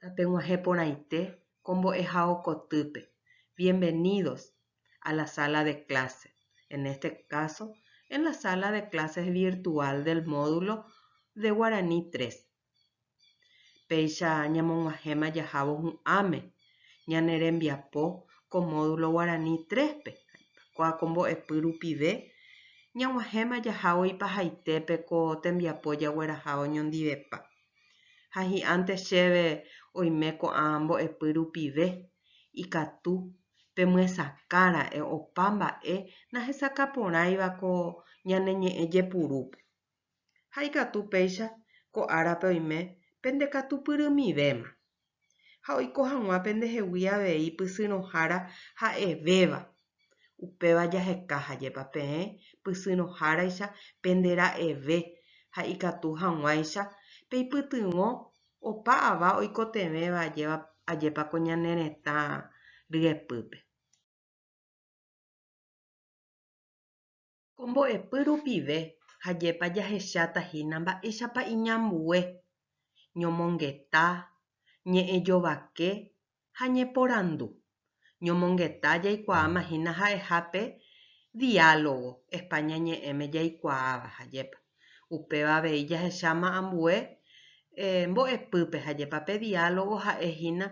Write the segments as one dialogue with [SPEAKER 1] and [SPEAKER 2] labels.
[SPEAKER 1] Tapeg̃uahẽ porãite ko mbo'ehao kotýpe, Bienvenidos a la sala de clase, en este caso en la sala de clases virtual del módulo de Guaraní tres. Péicha ñamog̃uahẽma jahávo hu'ãme ñane rembiapo ko módulo guarani tres-pe, ha'ekuaa ko mbo'epy rupive ñag̃uahẽma jahávo ipahaitépe ko tembiapo jagueraha oñondivepa. Ha hi'ãnte chéve oime ko'ã mbo'epy rupive ikatu pemyesakã ra'e opa mba'e nahesakã porãiva ko ñane ñe'ẽ jepurúpe. Ha ikatu péicha ko árape oime pende katu pyrymivéma, ha oiko hag̃ua pendehegui avei pysyrõhára ha'evéva, upéva jaheka hajépa peẽ pysyrõháraicha pende ra'eve ha ikatu hag̃uáicha peipytyvõ opa ava oikotevẽva ajépa ko ñane retã ryepýpe. Ko mbo'epy rupive hajépa jahecháta hína mba'éichapa iñambue ñomongeta, ñe'ẽjovake ha ñeporandu. Ñomongeta jaikuaáma hína ha'eha pe diálogo España ñe'ẽme jaikuaáva, hajépa. Upéva avei jahecháma ambue mbo'epýpe ha jepa pe diálogo ha'e hína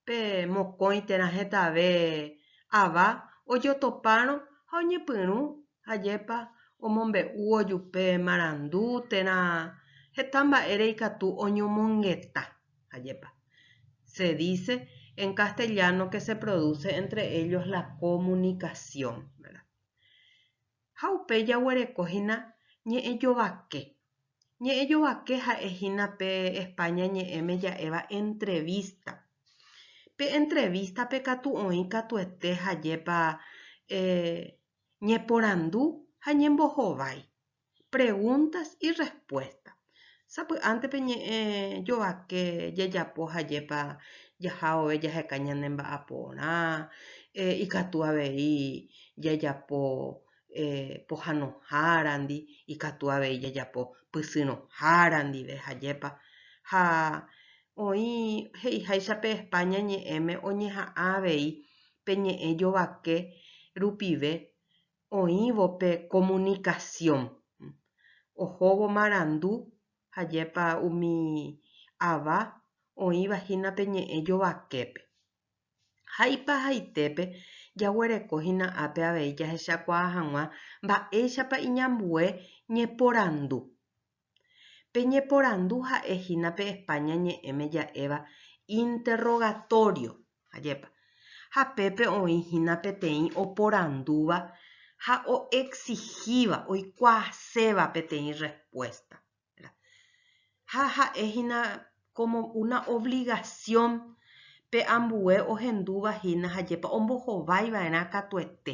[SPEAKER 1] pe mokõi térã hetave ava ojotopárõ ha oñepyrũ ha jepa omombe'u ojupe marandu térã heta mba'ére ikatu oñomongeta ha jepa. Se dice en castellano que se produce entre ellos la comunicación. ha upe jaguereko hína ñe'ẽ jovake. Ñe'ẽ jovake ha'e hína pe España ñe'ẽme ja'éva entrevista. Pe entrevista-pe katu oĩ katuete ha jepa ñeporandu ha ñembohovái, preguntas y respuestas. Sapy'ánte pe ñe'ẽ jovake jajapo hajépa jaha vove jaheka ñane mba'aporã, ikatu avei jajapo pohanohárandi, ikatu avei jajapo pysyrõhára ndive hajépa. Ha oĩ he'iháicha pe España ñe'ẽme oñeha'ã avei pe ñe'ẽ jovake rupive oĩvo pe comunicación, ohóvo marandu ha jepa umi ava oĩva hína pe ñe'ẽ jovaképe. Ha ipahaitépe jaguereko hína ápe avei jahechakuaa hag̃ua mba'éichapa iñambue ñeporandu Peñeporandu ha'e hína pe España ñe'ẽme ja'éva interrogatorio, ajépa, ha pépe oĩ hína peteĩ oporandúva ha o'exigíva, oikuaaséva peteĩ respuesta, ¿verdad? Ha ha'e hína como una obligación pe ambue ohendúva hína, ajépa ombohováiva'erã katuete.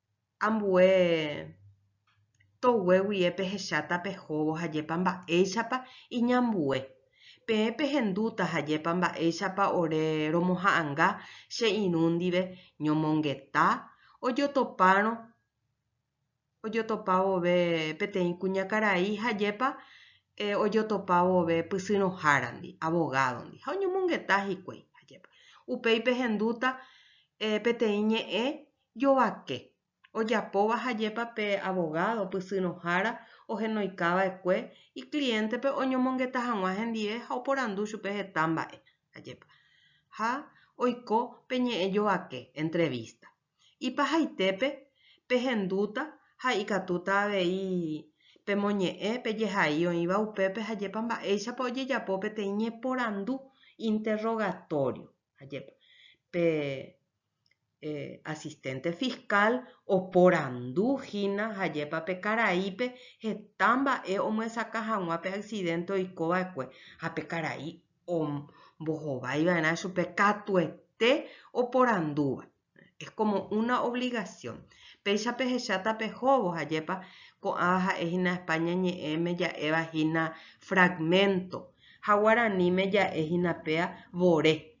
[SPEAKER 1] ambue togue guie pehecháta pehóvo hajépa mba'éichapa iñambue, peẽ pehendúta hajépa mba'éichapa ore romoha'anga che irũ ndive ñomongeta ojotopárõ ojotopa vove peteĩ kuñakarai hajépa ojotopa vove pysyrõhárandi, avogádondi, ha oñomongeta hikuái hajépa. Upéi pehendúta peteĩ ñe'ẽ Jovake, ojapóva hajépa pe abogado pysyrõhára ohenoikava'ekue ikliéntepe oñomongeta hag̃ua hendive ha oporandu chupe heta mba'e, ajépa? Ha oiko pe ñe'ẽ jovake, entrevista. Ipahaitépe pehendúta ha ikatúta avei pemoñe'ẽ pejehai oĩva upépe hajépa mba'éichapa ojejapo peteĩ ñeporandu, interrogatorio, ajépa? Pe Asistente fiscal oporandu hína hajépa pe karaípe heta mba'e omyesakã hag̃ua pe accidente oiko va'ekue ha pe karai ombohovái va'erã chupe katuete oporandúva. Es como una obligación. Péicha pehecháta pehóvo ajépa ko'ãva ha'e hína España ñe'ẽme ja'éva hína fragmento ha guaraníme ja'e hína péa vore.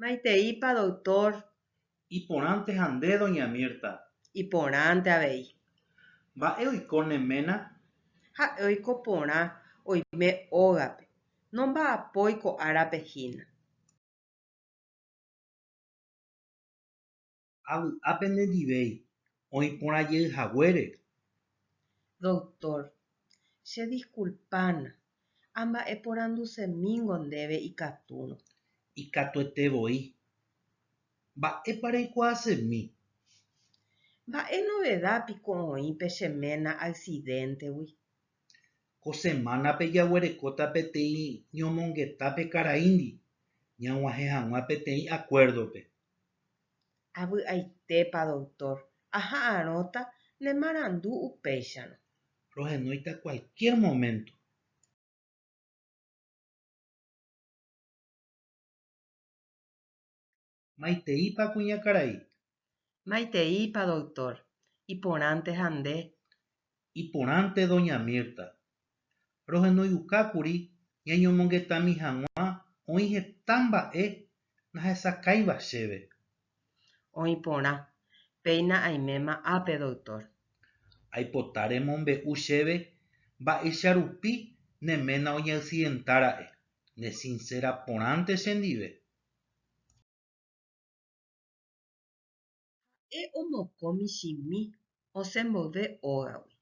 [SPEAKER 1] Maiteípa doctor. Iporãnte
[SPEAKER 2] ha nde, doña Mirta. Iporãnte
[SPEAKER 1] avei. Mba'e
[SPEAKER 2] oiko ne ména? Ha'e
[SPEAKER 1] oiko porã oime ógape. Nomba'apói ko árape hína.
[SPEAKER 2] ha vy'a pende ndivéi oĩ porã jey haguére.
[SPEAKER 1] Doctor, che disculpána, amba'e porandusemíngo ndéve ikatúrõ. Ikatuete
[SPEAKER 2] voi. Mba'épa reikuaasemi?
[SPEAKER 1] Mba'e novedad piko oĩ pe che ména accidente-gui?
[SPEAKER 2] Ko semana-pe jaguerekóta peteĩ ñomongeta pe karaíndi ñag̃uahẽ hag̃ua peteĩ acuerdo-pe. Avy'aitépa
[SPEAKER 1] doktór, aha'arõta ne marandu upéicharõ. Rohenóita
[SPEAKER 2] kualkiér moménto. Maiteípa kuñakarai?
[SPEAKER 1] Maiteípa doktór, iporãnte ha nde,
[SPEAKER 2] Iporãnte doña Mirta. Rohenoiukákuri ñañomongetami hag̃ua oĩ heta mba'e nahesakãiva chéve.
[SPEAKER 1] Oĩ porã. Péina aiméma ápe, doctor. Aipota
[SPEAKER 2] remombe'u chéve mba'éicha rupi ne ména oñeaccidenta ra'e. Ne sincera porãnte chendive.
[SPEAKER 1] Ha'e omoko michĩmi osẽ mboyve ógagui,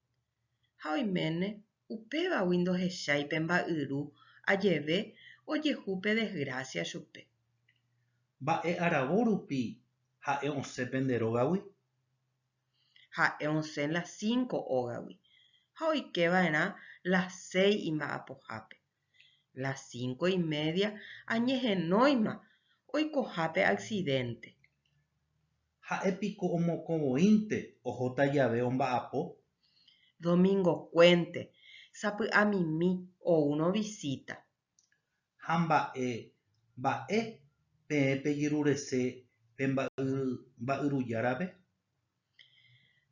[SPEAKER 1] ha oiméne upévagui ndohechái pe mba'yru ajeve ojehu pe desgrásia chupe.
[SPEAKER 2] Mba'e aravo rupi ha'e osẽ pende rógagui?
[SPEAKER 1] Ha'e osẽ las cinco ógagui ha oike va'erã las seis imba'apohápe. Las cinco y media añehenóima oikoha pe accidente.
[SPEAKER 2] Ha'e piko omokõ voínte ohóta jave omba'apo?
[SPEAKER 1] Domingokuénte, sapy'amimi oúrõ visita. Ha
[SPEAKER 2] mba'e mba'e peẽ pejyrurese pe mba'yru járape?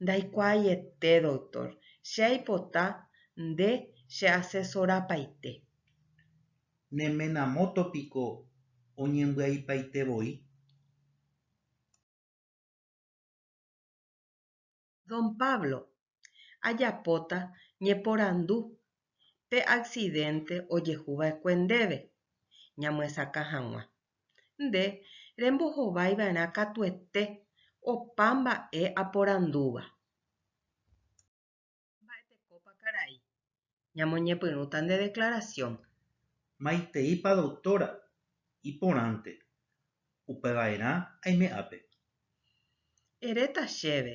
[SPEAKER 1] Ndaikuaaiete, doctor. Che aipota nde cheasesorapaite.
[SPEAKER 2] Ne ména moto piko oñembyaipaite voi?
[SPEAKER 1] Don Pablo, ajapóta ñeporandu pe aksidénte ojehu va'ekue ndéve ñamyesakã hag̃ua. Nde rembohovái va'erã katuete opa mba'e aporandúva. Mba'etekópa karai Ñamoñepyrũta nde declaración. Maiteípa
[SPEAKER 2] doctora, iporãnte. Upeva'erã aime ápe.
[SPEAKER 1] Eréta chéve,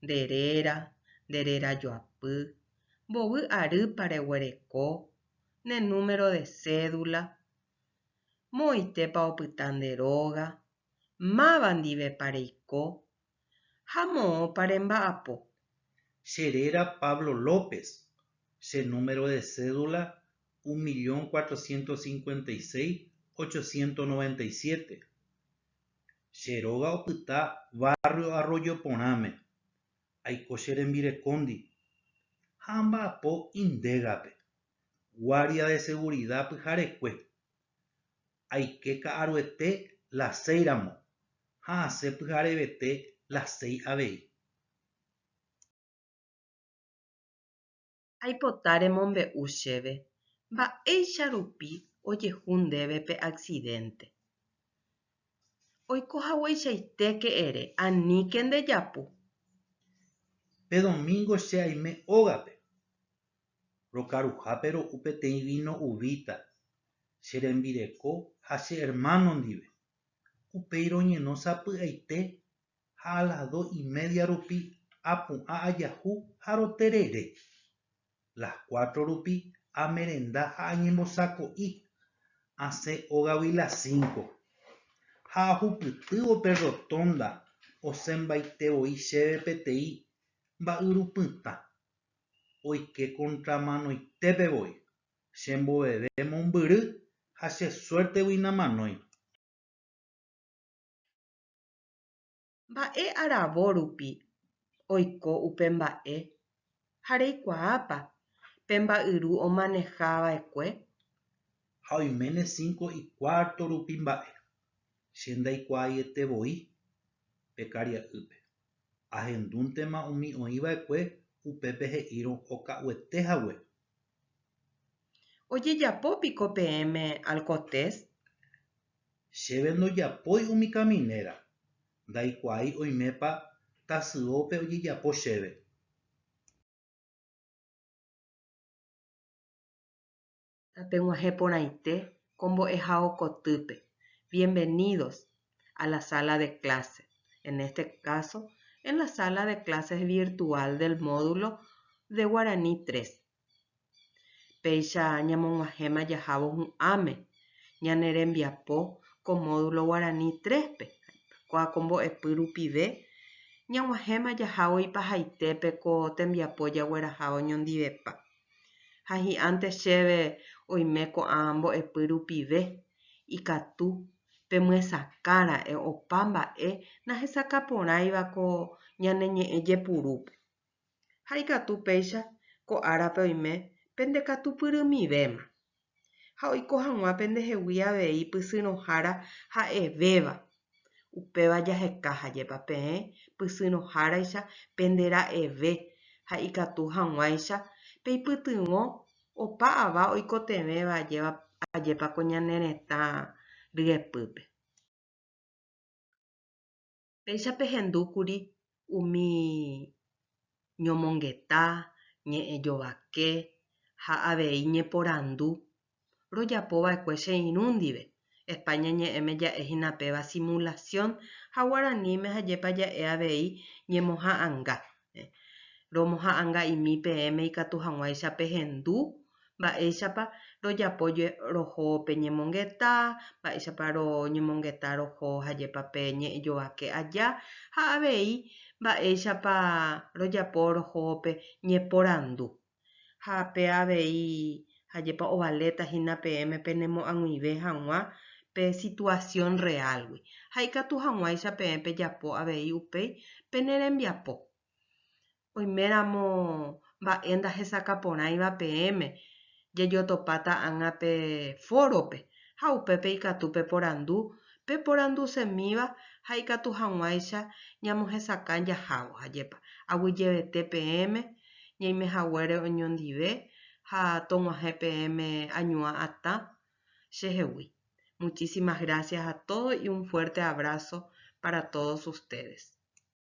[SPEAKER 1] nde réra, nde réra joapy, mbovy arýpa reguereko, ne número de cédula, moõitépa opyta nde róga, máva ndivepa reiko, ha moõpa remba'apo. Che
[SPEAKER 2] réra Pablo López, che número de cédula un millón cuatrocientos cincuenta y seis, ochocientos noventa y siete. Che róga opyta barrio Arroyo Porãme. Aiko che rembirekóndi ha amba'apo Indégape, guardia de seguridad pyharekue. Aike ka'aruete las seis ramo ha asẽ pyharevete las seis avei.
[SPEAKER 1] Aipota remombe'u chéve mba'éicha rupi ojehu ndéve pe accidente. Oiko hagueichaitéke ere, aníke ndejapu.
[SPEAKER 2] Pe domingo che aime ógape, Rokaruhápe ro'u peteĩ víno uvíta che rembireko ha che ermáno ndive. Upéi roñeno sapy'aite ha a las dos y media rupi apu'ã ajahu ha roterere. Las cuatro rupi amerenda ha añembosako'i, asẽ ógagui las cinco. Ha ahupytývo pe rrotónda osẽmbaite voi chéve peteĩ mba'yrupytã. oike kontramanoitépe voi, chemboveve mombyry ha che suértegui namanói.
[SPEAKER 1] Mba'e aravo rupi oiko upe mba'e ha reikuaápa pe mba'yru omaneha va'ekue?
[SPEAKER 2] Ha oiméne cinco y cuarto rupi mba'e, che ndaikuaaiete voi pe karia'ýpe. ahendúntema umi oĩ va'ekue upépe he'írõ oka'uete hague.
[SPEAKER 1] Ojejapo piko peẽme alcotés?
[SPEAKER 2] Chéve ndojapói umi kaminéra, ndaikuaái oimépa tasyópe ojejapo chéve.
[SPEAKER 1] Tapeg̃uahẽ porãite ko mbo'ehao kotýpe, Bienvenidos a la sala de clase, en este caso en la sala de clases virtual del módulo de Guaraní 3. Péicha ñamog̃uahẽma jahávo hu'ãme ñane rembiapo ko módulo Guaraní 3-pe, kua ko mbo'epy rupive ñag̃uahẽma jahávo ipahaitépe ko tembiapo jagueraha oñondivepa. Ha hi'ãnte chéve oime ko'ã mbo'epy rupive, ikatu pemyesakã ra'e opa mba'e nahesakã porãiva ko ñane ñe'ẽ jepurúpe. Ha ikatu péicha ko árape oime pendekatupyrymivéma. ha oiko hag̃ua pendehegui avei pysyrõhára ha'evéva. Upéva jaheka hajépa peẽ pysyrõháraicha pende ra'eve ha ikatu hag̃uáicha peipytyvõ opa ava oikotevẽva ajépa ko ñane retã ryepýpe. Péicha pehendu kuri umi ñomongeta, ñe'ẽjovake ha avei ñeporandu rojapo va'ekue che irũ ndive. España ñe'ẽme ja'e hína péva simulación ha guaraníme ha jepa ja'e avei ñemoha'ãnga. romoha'anga'imi peẽme ikatu hag̃uáicha pehendu, mba'éichapa rojapo roho pe ñemongeta, mba'éichapa roñemongeta roho hajépa pe ñe'ẽjovake aja ha avei mba'éichapa rojapo roho pe ñeporandu. Ha pe avei, ajépa ovaléta hína peẽme penemoag̃uive hag̃ua pe situasión reálgui, ha ikatu hag̃uáicha peẽ pejapo avei upéi pene rembiapo. Oiméramo mba'e ndahesakã porãiva peẽme, jajotopáta ág̃a pe fórope, ha upépe ikatu peporandu peporandusemíva ha ikatu hag̃uáicha ñamohesakã jahávo, ajépa aguyjevete peẽme ñaime haguére oñondive ha tog̃uahẽ peẽme añuã atã che hegui. Muchísimas gracias a todos y un fuerte abrazo para todos ustedes.